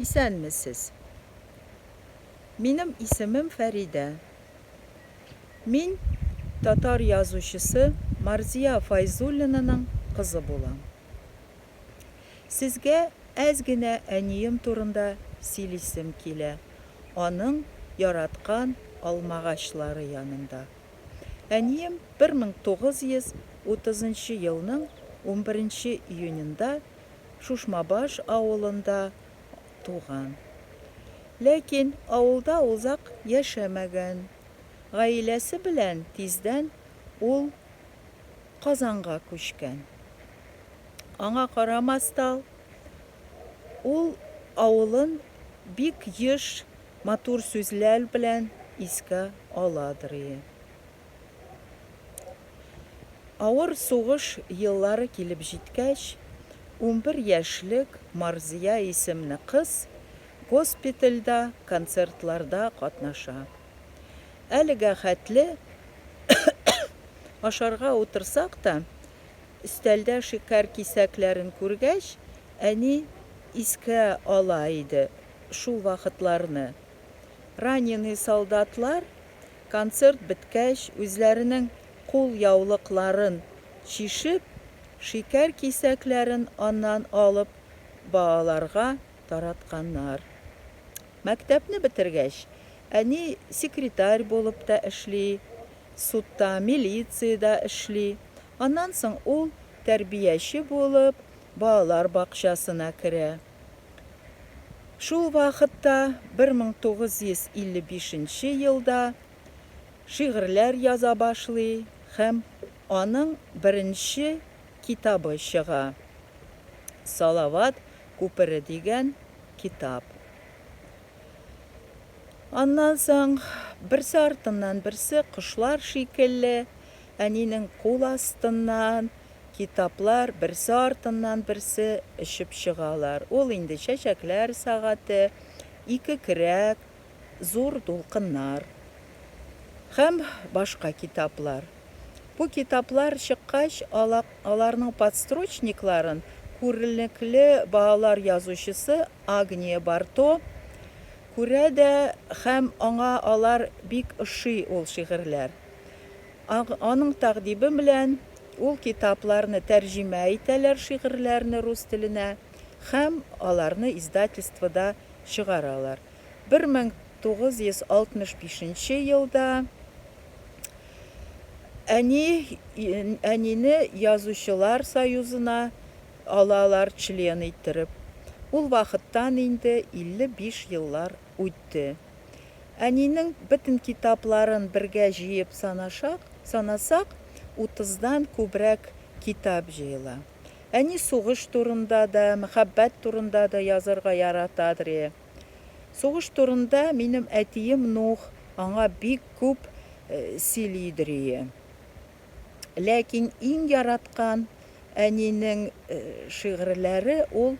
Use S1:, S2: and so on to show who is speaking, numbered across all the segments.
S1: Исәнмесез! Минем исемем Фәридә. Мин татар язучысы Марзия Файзуллинаның кызы булам. Сезгә әз генә әнием турында сөйлисем килә, аның яраткан алмагачлары янында. Әнием 1930 нчы елның 11 нче июненда Шушмабаш авылында туган. Ләкин авылда озак яшәмәгән. Гаиләсе белән тиздән ул Казанга күчкән. Аңа карамастал, ул авылын бик еш матур сүзләр белән искә аладыр ие. Авыр сугыш еллары килеп җиткәч, унбер яшьлек Марзия исемле кыз госпитальдә концертларда катнаша. Әлегә хәтле ашарга утырсак та, өстәлдә шикәр кисәкләрен күргәч, әни искә ала иде шул вакытларны. Раненый солдатлар, концерт беткәч, үзләренең кул яулыкларын чишеп, шикәр кисәкләрен аннан алып, балаларга таратканнар. Мәктәпне бетергәч, әни секретарь булып та эшли, судта, милициядә эшли. Аннан соң ул, тәрбияче булып, балалар бакчасына керә. Шул вакытта, 1955 нче елда, шигырьләр яза башлый һәм аның беренче китабы чыга, Салават күпере дигән китап. Аннан соң, берсе артыннан берсе, кошлар шикелле, әнинең кул астыннан, Китаплар берсе артыннан берсе очып чыгалар. Ул инде Чәчәкләр сәгате, Ике көрәк, Зур дулкыннар һәм башка китаплар. Бу китаплар чыккач, аларның подстрочникларын күренекле балалар язучысы Агния Барто күрә дә һәм аңа алар бик ошый ул шигырьләр. Аның тәкъдиме белән ул китапларны тәрҗемә итәләр шигырьләрне рус теленә һәм аларны издательствода чыгаралар. 1965 нче елда әни әнине Язучылар союзына алалар член иттереп. Ул вакыттан инде 55 еллар үтте. Әнинең бөтен китапларын бергә җыеп санашак, санасак, утыздан күбрәк китап җыела. Әни сугыш турында да, мәхәббәт турында да язарга яратадыр. Сугыш турында минем әтием Нух аңа бик күп сөйлидер. Ләкин иң яраткан әнинең шигырьләре ул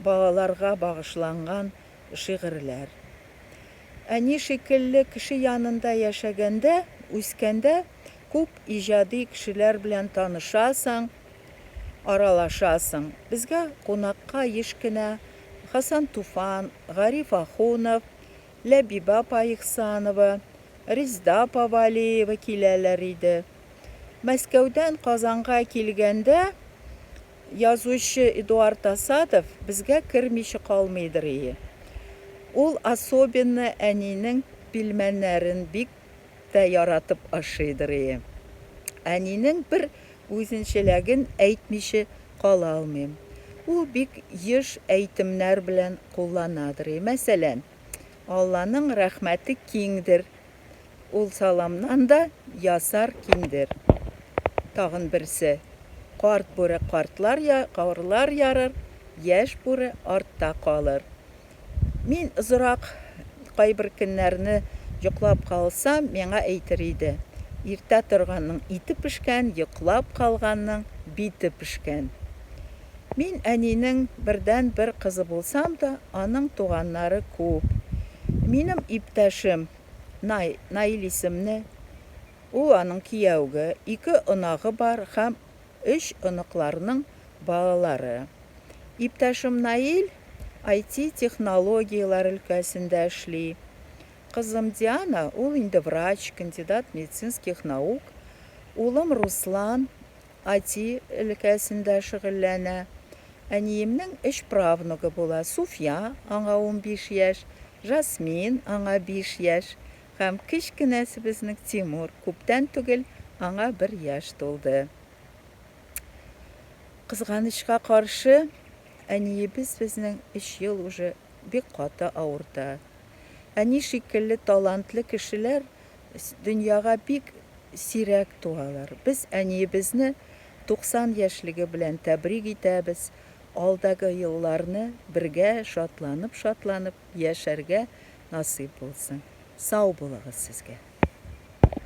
S1: балаларга багышланган шигырьләр. Әни шикелле кеше янында яшәгәндә, үскәндә күп иҗади кешеләр белән танышасың, аралашасың. Безгә кунакка еш кенә Хасан Туфан, Гариф Ахунов, Ләбибә апа Ихсанова, Резда апа Вәлиева киләләр иде. Мәскәүдән Казанга килгәндә, Язучы Эдуард Асадов безгә кермичә калмыйдыр ие. Ул особенно әнинең пилмәннәрен бик тә яратып ашыйдыр ие. Әнинең бер үзенчәләген әйтмичә кала алмыйм. Ул бик еш әйтемнәр белән кулланадыр ие. Мәсәлән, Алланың рәхмәте киңдер. Ул саламнан да ясар киндер. Тагын берсе, Карт бүре картлар я, карлар ярыр, яшь бүре артта калыр. Мин озырак кайбер көннәрне йоклап калсам, миңа әйтер иде, Иртә торганның ите пешкән, йоклап калганның бите пешкән. Мин әнинең бердәнбер кызы булсам да, аның туганнары күп. Минем иптәшем, Най, Наил исемле, ул аның кияүге, ике онагы бар һәм өч оныкларның балалары. Иптәшем Наил IT технологияләр өлкәсендә эшли. Кызым Диана, ул инде врач, кандидат медицинских наук, улым Руслан, IT өлкәсендә шөгыльләнә. Әниемнең өч правнугы була, Суфия, аңа унбиш яшь, Жасмин, аңа биш яшь, һәм кечкенәсебезнең, Тимур, күптән түгел аңа бер яшь тулды. Кызганычка каршы, әниебез безнең өч ел уже бик каты авырта. Әни шикелле талантлы кешеләр дөньяга бик сирәк туалар. Без әниебезне 90 яшьлеге белән тәбрик итәбез, алдагы елларны бергә шатланып-шатланып яшәргә насыйп булсын. Сау булыгыз сезгә.